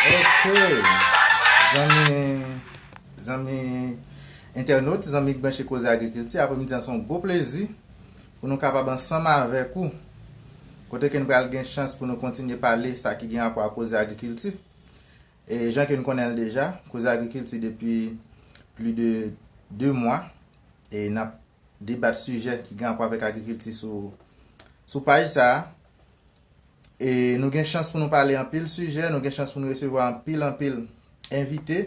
Ok zanmi zanmi entènot zanmi k branche koze agrikilti apremidi an se yon gwo plezi pou nou kapab ansanm avèk ou kote ke nou pral gen chans pou nou kontinye pale sa ki gen rapò ak koze agrikilti e jan ke nou konnen l deja koze agrikilti depi pli de 2 mwa e n ap debat sijè ki gen rapò avèk agrikilti sou sou paj sa a E nou gen chans pou nou pale anpil sijè, nou gen chans pou nou resevwa anpil anpil envite.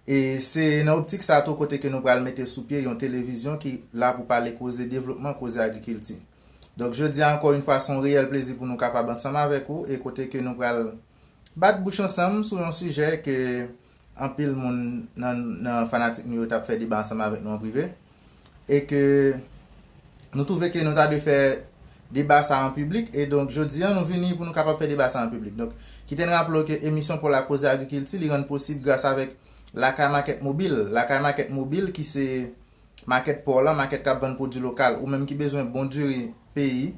E se nan optik sa tou kote ke nou pral mete sou pye yon televizyon ki la pou pale koze devlopman, koze agrikilti. Donk jodi a ankò yon fwa son reyèl plezi pou nou kapab ansanm avèk ou e kote ke nou pral. Bat bouch ansanm sou yon sijè ke anpil moun nan fanatik nou yo tap fè deba ansanm avèk nou an prive e ke nou twouve ke nou ta dwe fè deba sa an piblik e donk jodi an nou vini pou nou kapab fè deba sa an piblik. Donk kite n raple w ke emisyon paw la Koze Agrikilti li rann posib gras avèk Lakay Makèt Mobil, Lakay Makèt Mobil ki se. Makèt pa w lan, makèt k ap vann pwodui lokal. Ou menm ki bezwen bon diri peyi,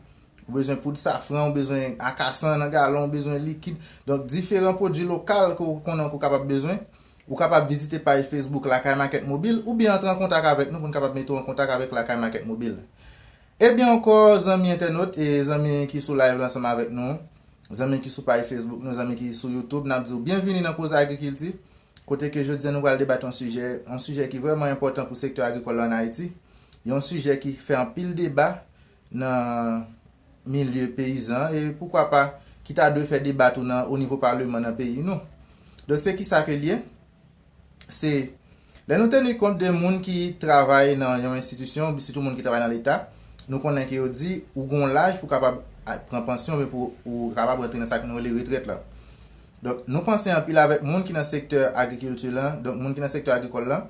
ou bezwen poud safran, ou bezwen akasan nan galon, ou bezwen likid, donk diferan pwodui lokal ke w konnen ke w kapab bezwen, ou kapab vizite paj Facebook Lakay Makèt Mobil oubyen antre an kontak avèk nou pou n kapab mete w an kontak avèk Lakay Makèt Mobil. Ebyen ankò zanmi entènot e zanmi ki sou live la ansanm avèk nou, Zanmi ki sou paj Facebook nou, zanmi ki sou YouTube, nap diw byenvini nan Koze Agrikilti, kote ke jodi an nou pral debat yon sijè, yon sijè ki vrèman enpòtan pou sektè agrikòl la an Ayiti, yon sijè ki fè anpil deba nan milye peyizan e poukwa pa ki ta dwe fè deba tou nan onivo paleman nan peyi nou. Donk se kisa ke l ye? se lè nou teni kont de moun ki travay nan yon enstitisyon, sitou moun ki travay nan leta, nou konnen ke yo di ou gen yon laj pou kapab pran pansyon oubyen pou ou kapab rantre nan sa ke nou rele retrèt la. Donk nou panse anpil avèk moun ki nan sektè agrikilti la, donk moun ki nan sektè agrikòl la,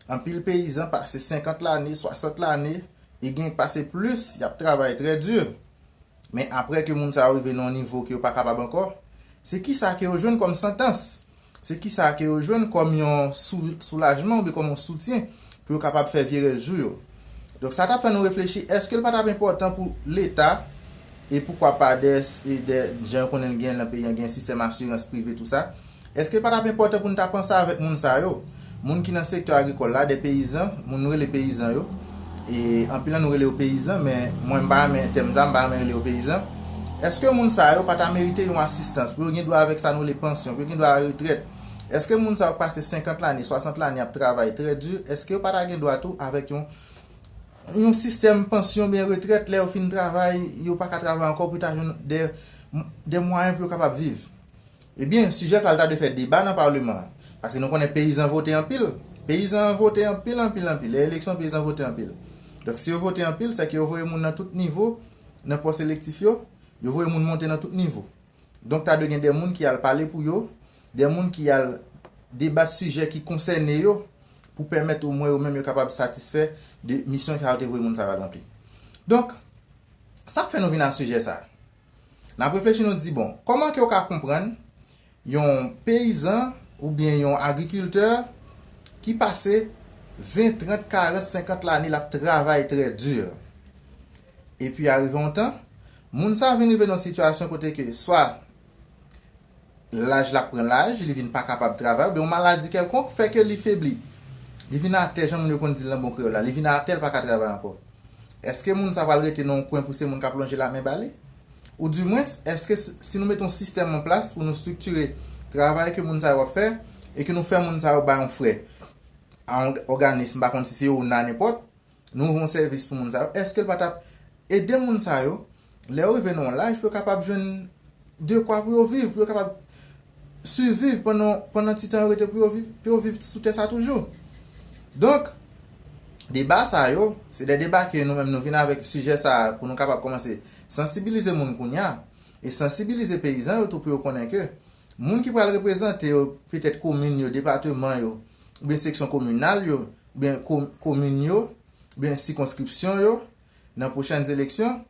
anpil peyizan pase 50 lane, 60 lane e gen ki pase plis, y ap travay trè di. Men aprè ke moun sa yo rive nan yon nivo ke yo pa kapab ankò, se kisa ke yo jwenn kòm santans? Se kisa ke yo jwenn kòm yon soulajman oubyen kòm yon soutyen pou yo kapab fè vye rès jou yo? Donk sa ta fè nou reflechi, èske l pa tap enpòtan pou leta e poukwa pa dè jan yo konnen l gen nan peyi an gen sistèm asirans prive tou sa, Èske l pa t ap enpòtan pou n ta panse avèk moun sa yo, moun ki nan sektè agrikòl la, dè peyizan, moun nou rele peyizan yo, e anpil nan nou rele yo peyizan, men mwen m pa renmen tèm sa, m pa renmen rele yo peyizan, èske moun sa yo pa ta merite yon asistans, pou yo gen dwa avèk sa nou rele pansyon, pou yo gen dwa a retrèt? Èske moun sa yo k pase 50 lane, 60 lane ap travay trè di, èske yo pa ta gen dwa tou avèk yon yon sistèm pansyon oubyen retrèt lè yo fin travay, yo pa ka travay ankò pou yo ta jwenn dè dè mwayen pou yo kapab viv? Ebyen, sijè sa l ta dwe fè deba nan Paleman an. Pase nou konnen peyizan vote anpil. Peyizan an vote anpil, anpil, anpil. Lè eleksyon, peyizan vote anpil. Donk, si yo vote anpil, sèke yo voye moun nan tout nivo nan pòs elektif yo. Yo voye moun monte nan tout nivo. Donk, ta dwe gen de moun ki al pale pou yo, de moun ki al debat sijè ki konsène yo pou pèmèt omwen yo menm yo kapab satisfè de misyon sa yo te voye moun sa yo al ranpli. Donk, sa k fè nou vin a sijè sa a? N ap reflechi nou di bon, kòman ke w ka konprann yon peyizan oubyen yon agrikiltè ki pase 20, 30, 40, 50 lane l ap travay trè di, epi arive yon tan, moun sa vin rive nan yon sitiyasyon kote ke swa Laj la pran laj, li vin pa kapab travay oubyen yon maladi kèlkonk fè ke li febli. Li vin atè jan moun yo konn di l nan bon kreyòl la, li vin atè l pa ka travay ankò. Èske moun sa pral rete nan yon kwen pou se moun k ap lonje lamen ba li? Ou di mwens, èske si nou mete yon sistèm an plas pou nou striktire travay ke moun sa yo ap fè e ke nou fè moun sa yo bay yon frè a yon òganism, m pa konn si se ona nenpòt, Nou ofri yon sèvis pou moun sa yo, èske l pa t ap ede moun sa yo lè yo rive nan yon laj pou yo kapab jwenn dekwa pou yo viv, pou yo kapab siviv pandan ti tan yo rete pou yo viv sou tè sa a toujou? Donk, deba sa yo, se de deba ke nou menm nou vin avèk sijè sa a pou nou kapab kòmanse sansibilize moun kounye a e sansibilize peyizan yo tou pou yo konnen ke moun ki pral reprezante yo petèt komin yo, depateman yo oubyen seksyon kominal yo, Byen komin yo, byen sikonskripsyon yo nan pwochèn eleksyon.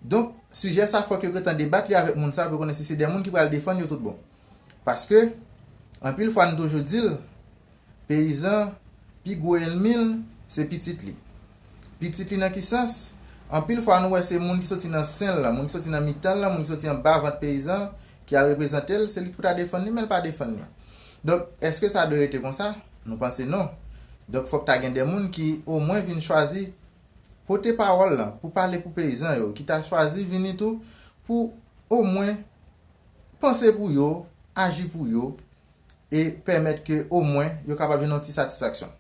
Donk, sijè sa fòk yo gen tan debat li avèk moun sa pou yo konnen si se de moun ki pral defann yo tout bon. Paske, anpil fwa nou toujou di l, peyizan, pi gwo elmi l, se pitit li. Pitit li nan ki sans? Anpil fwa nou wè se moun ki soti nan sen l lan, moun ki soti nan mitan l lan, moun ki soti anba vant peyizan an ki al reprezante l, se li ki pou ta defann li men l pa defann li. Donk, èske sa dwe rete konsa? Nou panse non. Donk fòk ta gen de moun ki omwen vin chwazi pote pawòl lan pou pale pou peyizan yo, ki ta chwazi vini tou pou omwen panse pou yo, aji pou yo e pèmèt ke omwen yo kapab jwenn yon ti satisfaksyon.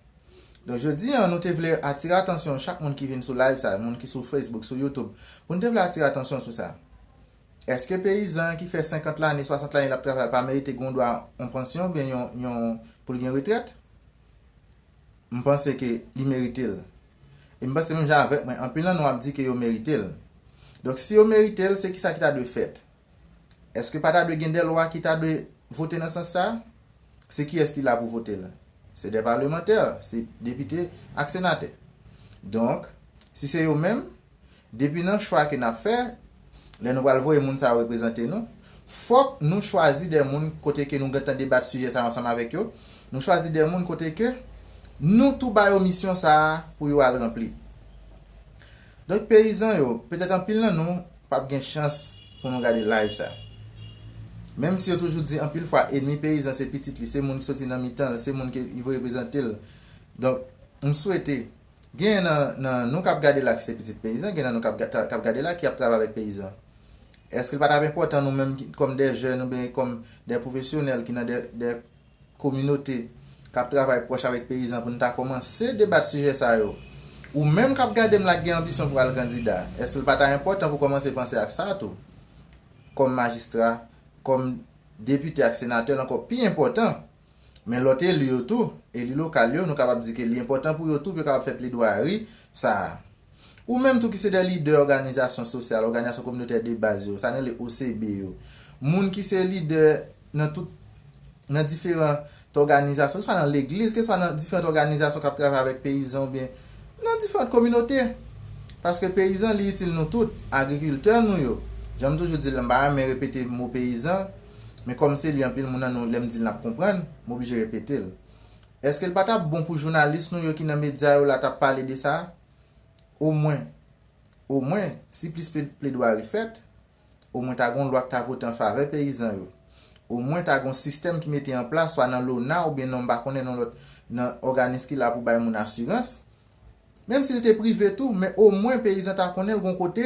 Donk jodi an nou te vle atire atansyon chak moun ki vin sou live sa, moun ki sou Facebook, sou YouTube, pou nou te vle atire atansyon sou sa. Eske peyizan an ki fè 50 lane, 60 lane l ap travay pa merite gen yon dwa yon pansyon oubyen yon pou l gen retrèt? M panse ke li merite l. E m panse menm jan avèk mwen, anpil nan nou ap di ke yo merite l. Donk si yo merite l, se kisa ki ta dwe fèt? Eske pa ta dwe gen de lwa ki ta dwe vote nan sans sa? Se kiyès ki la pou vote l? Se de palemantè, se depite ak senatè. Donk, si se yo menm, Depi nan chwa ke nap fè, lè nou pral voye moun sa yo reprezante nou, fòk nou chwazi de moun kote ke nou gentan debat sijè sa yo ansanm avèk yo, nou chwazi de moun kote ke nou tou ba yo misyon sa a pou yo al ranpli. Donk peyizan yo, petèt anpil nan nou pap gen chans pou nou gade live sa. Menm si yo toujou di anpil fwa enmi peyizan se pitit li, se moun ki soti nan mitan l, se moun ke li vle reprezante l. Donk, m swete Gen nan nou kap gade la ki se pitit peyizan, gen nan nou kap gade la ki ap travay avèk peyizan. Eske li pa tap enpòtan nou menm kòm dè jèn oubyen kòm dè pwofesyonèl ki nan dè kominote kap travay pwòch avèk peyizan pou nou ta kòmanse debat sijè sa yo? Ou menm kap gade m la ki gen anbisyon pou al kandida, eske li pa ta enpòtan pou kòmanse panse ak sa tou? Kòm majistra, kòm depite ak senatè l ankò pi enpòtan. Men lòt eli yo tou, eli lokal yo, nou kapab di ke li enpòtan pou yo tou, pou yo kapab fè pledwayari sa a. Ou menm tou ki se de lidè òganizasyon sosyal, òganizasyon kominotè de baz yo, sa nou rele OCB yo, moun ki se lidè nan tout, nan diferant òganizasyon, keswa nan legliz, keswa nan diferant òganizasyon k ap travay avèk peyizan oubyen nan diferant kominote. Paske peyizan li itil nou tout, agrikiltè nou yo, jan m toujou di l la, m pa renmen repete mo peyizan, Men kòm se li anpil moun nan nou lè m di l n ap konprann, m oblije repete l. Èske l pa t ap bon pou jounalis nou yo ki nan medya yo la t ap pale de sa? Omwen, omwen, si plis pledwari fèt, omwen ta gen yon lwa k ta vote an favè peyizan yo. Omwen ta gen yon sistèm ki mete an plas swa nan LONA oubyen non m pa konnen nan lòt nan òganis ki la pou bay moun asirans, Menm si l te prive tou, men omwen peyizan ta konnen l gon kote,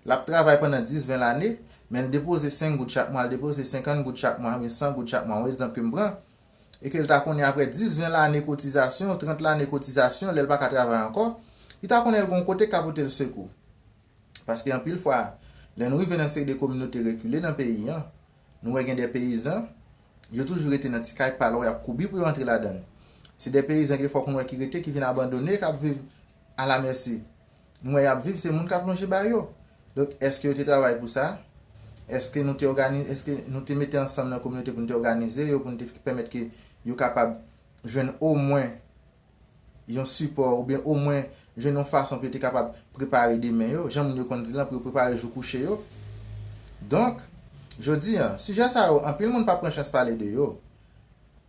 l ap travay pandan 10, 20 lane, men l depoze 5 goud chak mwa, l depoze 50 goud chak mwa oubyen 100 goud chak mwa, yon egzanp ke m pran, e ke l ta konnen aprè 10, 20 lane kotizasyon, 30 lane kotizasyon, lè l pa ka travay ankò, li ta konnen l gon kote k ka pote l sekou. Paske anpil fwa, lè nou rive nan seri de kominote rekile nan peyi an, Nou wè gen de peyizan, yo toujou rete nan ti kay pa lò, y ap koubi pou yo antre ladan l. Se de peyizan gen fòk nou wè ki rete, ki vin abandone, k ap viv alamèsi. Nou wè y ap viv, se moun k ap lonje ba yo. Donk, èske yo te travay pou sa? Èske nou te òganize, èske nou te mete ansanm nan kominote pou nou te òganize yo, pou nou te pèmèt ke yo kapab jwenn omwen. yon sipò oubyen omwen jwenn yon fason pou yo te kapab prepare demen yo, jan moun yo konn di l lan pou yo prepare jou kouche yo. Donk, jodi an, sijè sa yo anpil moun pa pran chans pale de yo,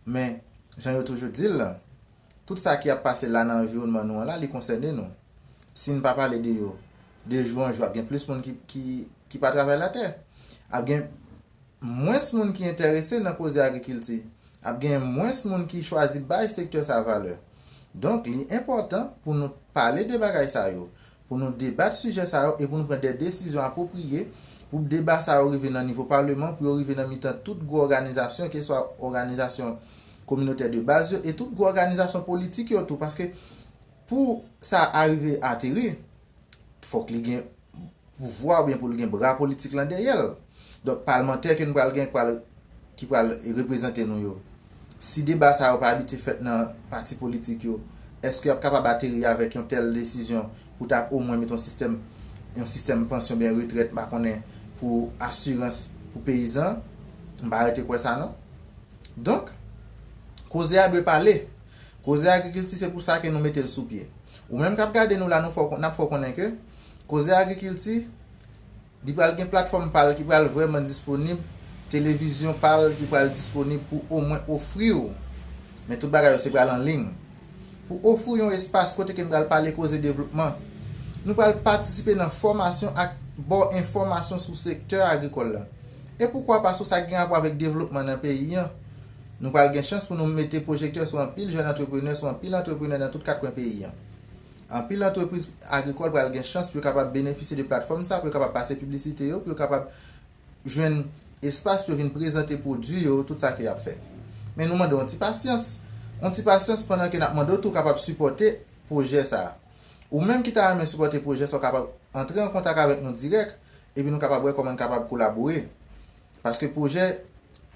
men, jan yo toujou di l lan, tout sa ki ap pase la nan anviwònman nou an la, li konsène nou. Si n pa pale de yo, de jou an jou ap gen plis moun ki pa travay latè, ap gen mwens moun ki enterese nan koze agrikilti, ap genyen mwens moun ki chwazi bay sektè sa valè. Donk li enpòtan pou nou pale de bagay sa yo, pou nou debat sijè sa yo e pou nou pran de desizyon apwopriye pou deba sa yo rive nan nivo paleman, pou yo rive nan mitan tout gwo òganizasyon keswa òganizasyon kominotè de baz yo e tout gwo òganizasyon politik yo tou paske pou sa a rive ateri. fòk li gen pouvwa oubyen pou l gen bra politik lan dèyè l. Donk palmantè ke nou pral gen pral, ki pral reprezante nou yo, si deba sa yo pa abitye fèt nan pati politik yo, èske y ap kapab ateri avèk yon tèl desizyon pou ta omwen mete yon sistèm, yon sistèm pansyon oubyen retrèt m pa konnen, pou asirans pou peyizan? M pa rete kwè sa non. Donk, koze a dwe pale. Koze agrikilti se pou sa ke nou mete l sou pye. Ou menm kap gade nou la nou fè w nap fè w konnen ke koze agrikilti li pral gen platfòm pa l ki pral vrèman disponib, televizyon pa l ki pral disponib pou omwen ofri w, men tout bagay yo se pral an liy, pou ofri w yon espas kote ke nou pral pale koze devlopman. Nou pral patisipe nan fòmasyon ak ba w enfòmasyon sou sektè agrikòl la. E poukwa pa sou sa ki gen rapò avèk devlopman nan peyi an. Nou pral gen chans pou nou mete pwojektè sou anpil jèn antreprenè, sou anpil antreprenè nan tout kat kwen peyi an. Anpil antrepriz agrikòl pral gen chans pou yo kapab benefisye de platfòm sa a, pou yo kapab pase piblisite yo, pou yo kapab jwenn espas pou yo vin prezante pwodui yo, tout sa ke y ap fè. Men nou mande w yon ti pasyans, yon ti pasyans pandan ke n ap mande w tou kapab sipòte pwojè sa a. Ou menm ki ta renmen sipòte pwojè sa a, ou kapab antre an kontak avèk nou dirèk, epi nou kapab wè kòman n kapab kolabore. Paske pwojè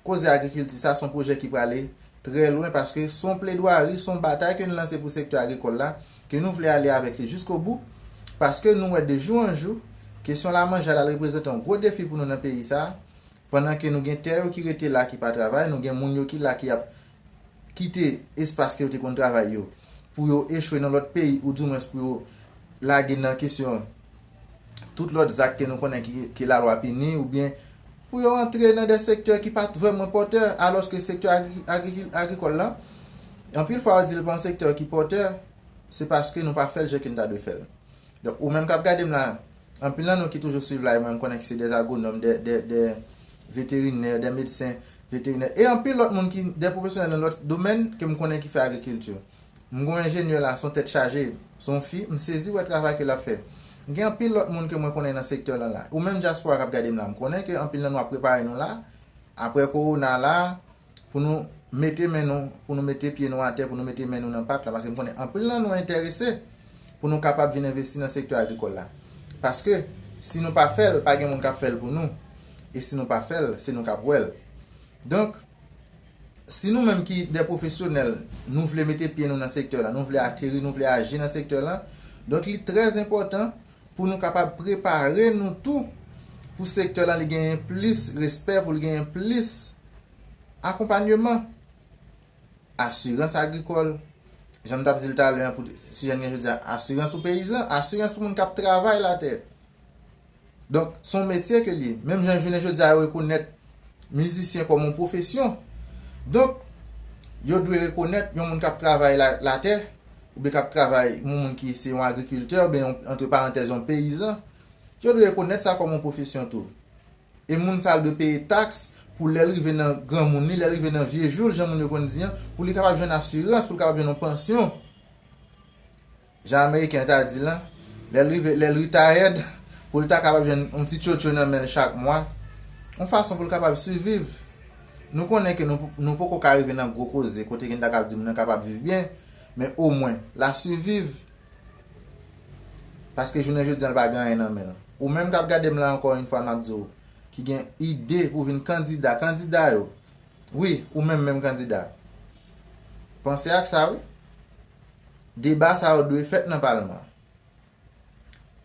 Koze agrikilti sa son pwojè ki prale trè lwen paske son pledwari, son batay ke nou lanse pou sektè agrikòl la, ke nou vle ale avèk li jiskobou, paske nou wè de jou an jou, kesyon lamanje al al reprezante yon gwo defi pou nou nan peyi sa, pandan ke nou gen tè yo ki rete la ki pa travay, nou gen moun yo ki la ki ap kite espas ke yo te konn travay yo pou yo echwe nan lòt peyi ou di mwens pou yo lage nan kesyon tout lòt zak ke nou konnen ke lalwa pini oubyen pou yo antre nan de sektè ki pat vrèman pòtè alòske sektè agrikòl la anpil fwa yo dil pa yon sektè ki pòtè se paske nou pa fèl jan ke nou ta dwe fèl donk ou menm kap gadem la anpil nan nou ki toujou swiv la e mwen mkonnen ki se de agwonòm de veterinè de medsen veterinè e anpil lòt moun ki de pwofesyonèl nan lòt domèn ke mkonnen ki fè agrikilti. M gou enjenyè la son tèt chaje, son fi, m sezi wè travay ke lap fè. Gen anpil lòt moun ke mwen konnen nan sektè lan la. Ou menm dyaspora kap gadem la, m konnen ke anpil nan nou ap prepare nou la, aprè kowona la, pou nou mete men nou, pou nou mete pye nou atè, pou nou mete men nou nan pat la, paske m konnen anpil nan nou enterese pou nou kapab vin envesti nan sektè agrikòl la. Paske, si nou pa fèl, pa gen moun kap fèl pou nou, e si nou pa fèl, se nou kap wèl. Donk, Si nou menm ki dè pwofesyonèl, nou vle mete pye nou nan sektè lan, nou vle ateri, nou vle aji nan sektè lan, donk li trè zenpòtan pou nou kapab prepare nou tou pou sektè lan li genyen plis respè, pou l genyen plis akonpanyeman. Asirans agrikòl, jan m t ap di l talè an pou sijè n gen jodi a, asirans pou peyizan, asirans pou moun k ap travay latè. Donk, se yon metye ke l ye. Menm jan jounen jodi a yo rekonèt mizisyen kòm yon pwofesyon. Donk, yo dwe rekonèt yon moun k ap travay latè, oubyen k ap travay, yon moun ki se yon agrikiltè, oubyen yon, antre parantèz, yon peyizan, yo dwe rekonèt sa kòm yon pwofesyon tou. E moun sa a l dwe peye taks pou lè l rive nan granmoun li, lè l rive nan vye jou l, jan moun yo konn di an, pou li kapab jwenn asirans, pou l kapab jwenn yon pansyon. Jan ameriken yo ta di lan, lè l rive lè l ritayèd, pou l ta kapab jwenn yon ti tchotcho nan men l chak mwa, yon fason pou l kapab siviv. Nou konnen ke nou nou poko ka rive nan gwo koze kote ke n ta kab di moun nan kapab viv byen, men omwen, l a siviv, paske jounen jodi an l pa gen anyen nan men l. Ou menm k ap gade m la ankò yon fwa m ap di w, ki gen ide pou vin kandida, kandida yo, wi, ou menm menm kandida, panse ak sa wi. Deba sa yo dwe fèt nan palman.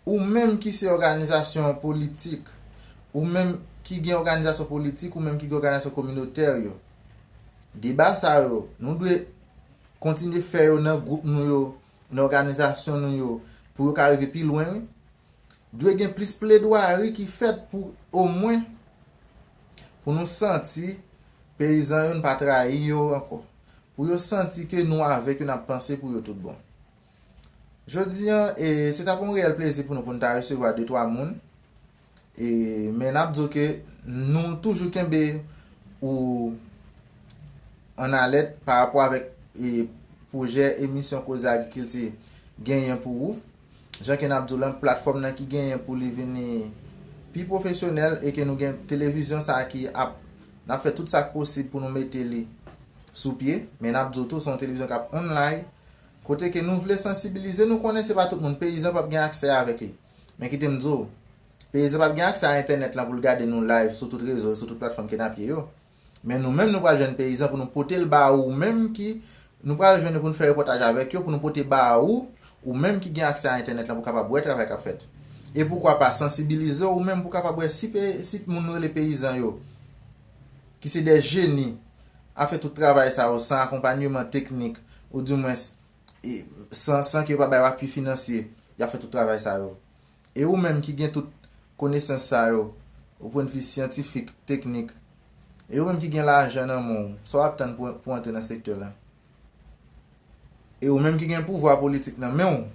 Ou menm ki se òganizasyon politik, ou menm ki gen òganizasyon politik, ou menm ki gen òganizasyon kominotè yo, deba sa yo, nou dwe kontinye fè yo nan gwoup nou yo, nan òganizasyon nou yo, pou yo ka rive pi lwen wi. Dwe gen plis pledwari ki fèt pou omwen Pou nou santi peyizan yo n pa trayi yo ankò. Pou yo santi ke nou avèk yo n ap panse pou yo tout bon. Jodi an e se t ap yon reyèl plezi pou nou pou n ta resevwa de twa moun e men n ap di w ke nou toujou kenbe ou an alèt pa rapò avèk e pwojè emisyon Koze Agrikilti genyen pou ou. Jan ke nap diw lan platfòm nan ki genyen pou li vini pi pwofesyonèl e ke nou gen televizyon sa ki ap nap fè tout sak posib pou nou mete li sou pye men nap diw tou son televizyon kap onlay kote ke nou vle sansibilize nou konnen se pa tout moun peyizan pap gen aksè avèk li men kitem diw peyizan pap gen aksè a entènèt lan poul gade nou live sou tout rezo sou tout platfòm ke nap ye yo. Men nou menm nou pral jwenn peyizan pou nou pote l ba ou menm ki Nou pral jwenn yo pou nou fè repòtaj avèk yo pou nou pote ba ou ou menm ki gen aksè a entènèt lan pou kapab wè travay k ap fèt. E poukwa pa sansibilize w ou menm pou kapab wè si pe si moun nou rele peyizan yo ki se de jeni ap fè tout travay sa yo san akonpanyeman teknik ou di mwens san san ke yo pa bay w apui finansye y ap fè tout travay sa yo. E ou menm ki gen tout konesans sa yo, o pwen de vi syantifik, teknik, e ou menm ki gen lajan nan men w, sa w ap tann pou w antre nan sektè la? E ou menm ki gen pouvwa politik nan men w,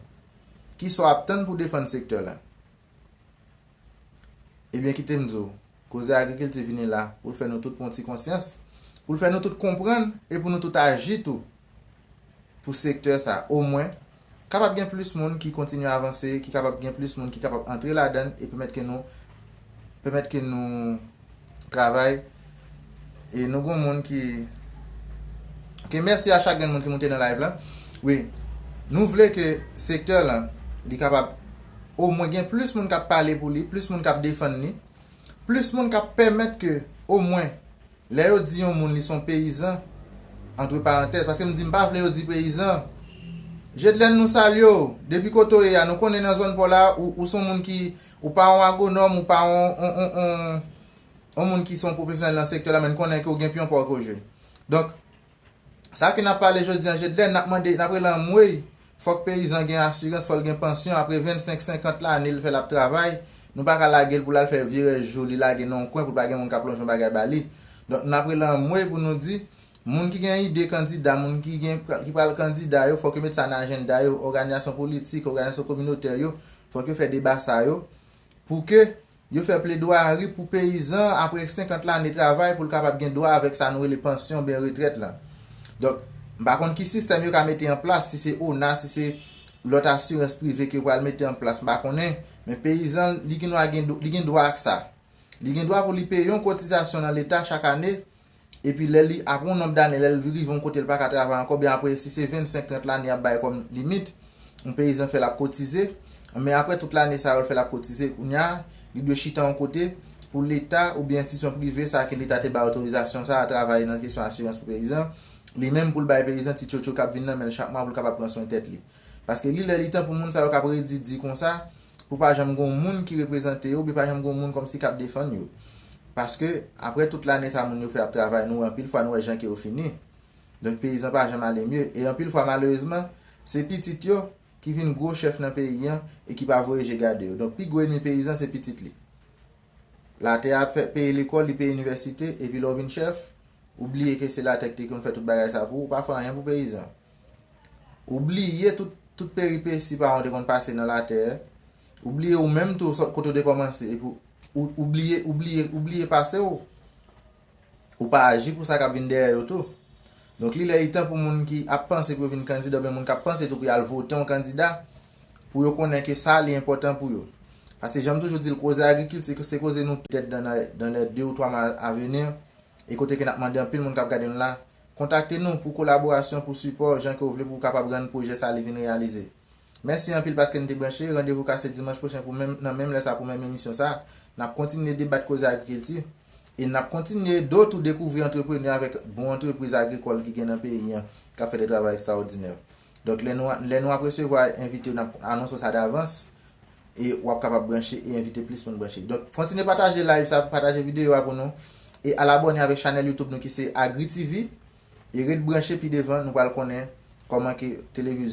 ki sa w ap tann pou w defann sektè la? Ebyen kite m di w, Koze agrikilti vini la pou l fè nou tout pran yon ti konsyans, pou l fè nou tout konprann e pou nou tout aji tou pou sektè sa omwen kapab gen plis moun ki kontinye avanse, ki kapab gen plis moun ki kapab antre ladan l e pèmèt ke nou pèmèt ke nou travay E nou gon moun ki Ok mèsi a chak grenn moun ki moute nan live la wi Nou vle ke sektè lan li kapab o mwen gen plis moun kap pale pou li plis moun kap defann li plis moun kap pèmèt ke o mwen lè yo di yon moun li son peyizan antre parantèz paske m di m pa vle yo di peyizan Jedlèn nou salye w depi kote w ye a nou konnen nan zòn paw la ou son moun ki ou pa yon agonòm ou pa yon yon moun ki se yon pwofesyonèl nan sektè la men n konnen ke w gen pyon pa w ke w jwe. Donk, sa ke n ap pale jodi an, Jedlèn, n ap mande, n ap rele anmwey, fòk peyizan gen asirans, fò l gen pansyon apre 25, 50 lane l fè l ap travay, nou pa ka lage l pou l al fè vye rès jou li lage nan yon kwen pou l pa gen moun k ap lonje yon bagay ba li. Donk, n ap rele anmwey pou nou di, moun ki gen ide kandida, moun ki gen, ki pral kandida yo, fòk yo met sa nan ajennda yo, òganizasyon politik, òganizasyon kominotè yo, fòk yo fè deba sa yo, pou ke Yo fè pledwayari pou peyizan an apre 50 lane travay pou l kapab gen dwa avèk sa nou rele pansyon oubyen retrèt lan. Donk, m pa konn ki sistèm yo ka mete an plas, si se ona, si se lòt asirans prive ke yo pral mete an plas m pa konnen, men peyizan li gnwa gen li gen dwa ak sa. Li gen dwa pou li peye yon kotizasyon nan leta chak ane epi lè li apre yon nonb dane lè l rive yon kote l pa ka travay ankò oubyen apre si se 25 30 lane y ap bay kòm limit yon peyizan fè l ap kotize men apre tout lane sa yo l fè l ap kotize kounye a li dwe chita yon kote pou leta oubyen enstitisyon prive sa ke leta te bay otorizasyon sa a travay nan kesyon asirans pou peyizan li menm pou l bay peyizan ti tchotcho k ap vin nan men l chak mwa pou l kapab pran swen tèt li paske li lè li tan pou moun sa yo k ap redi di konsa pou pa janm gon moun ki reprezante yo oubyen pa janm gon moun kòmsi kap defann yo paske aprè tout lane sa moun yo fè ap travay nou wè anpil fwa nou wè jan ke yo fini donk peyizan pa janm ale mye e anpil fwa malerezman se pitit yo ki vin gwo chèf nan peyi an e ki pa voye je gade yo donk pi gwo enmi peyizan se pitit li latè a ap fè peye lekòl li peye inivèsite epi lè w vin chèf ou bliye ke se latè ki te konn fè tout bagay sa pou ou pa fè anyen pou peyizan. Ou bliye tout tout peripesi paran w te konn pase nan latè, ou bliye ou menm tou sot kote w te kòmanse epi ou bliye ou bliye ou bliye pase w, ou pa aji pou sa k ap vin dèyè yo tou. Donk li lè li tan pou moun ki ap panse pou yo vin kandida oubyen moun k ap panse tou pou y al vote yon kandida pou yo konnen ke sa li enpòtan pou yo. Paske jan m toujou di l koze agrikilti se koze nou tèt dan nan lè 2 ou 3 mwa avenir e kote ke n ap mande anpil moun k ap gade nou la Kontakte nou pou kolaborasyon, pou sipò, jan ke w vle pou w kapab rann pwojè sa li vin reyalize. Mèsi anpil paske n te branche, randevou ka se dimanch pwochen pou menm nan menm lè sa pou menm emisyon sa. N ap kontinye debat koze agrikilti e n ap kontinye do tou dekouvri antreprenè avèk bon antrepriz agrikòl ki gen nan peyi an k ap fè de travay ekstraòdinè. Donk lè nou lè nou ap resevwa envite yo n ap anonso sa davans e w ap kapab branche e envite plis moun branche. Donk kontinye pataje live sa, pataje videyo a pou nou e al abòne avèk chanèl YouTube nou ki se Agritv e ret branche pi devan nou pral konnen kòman ke televiz.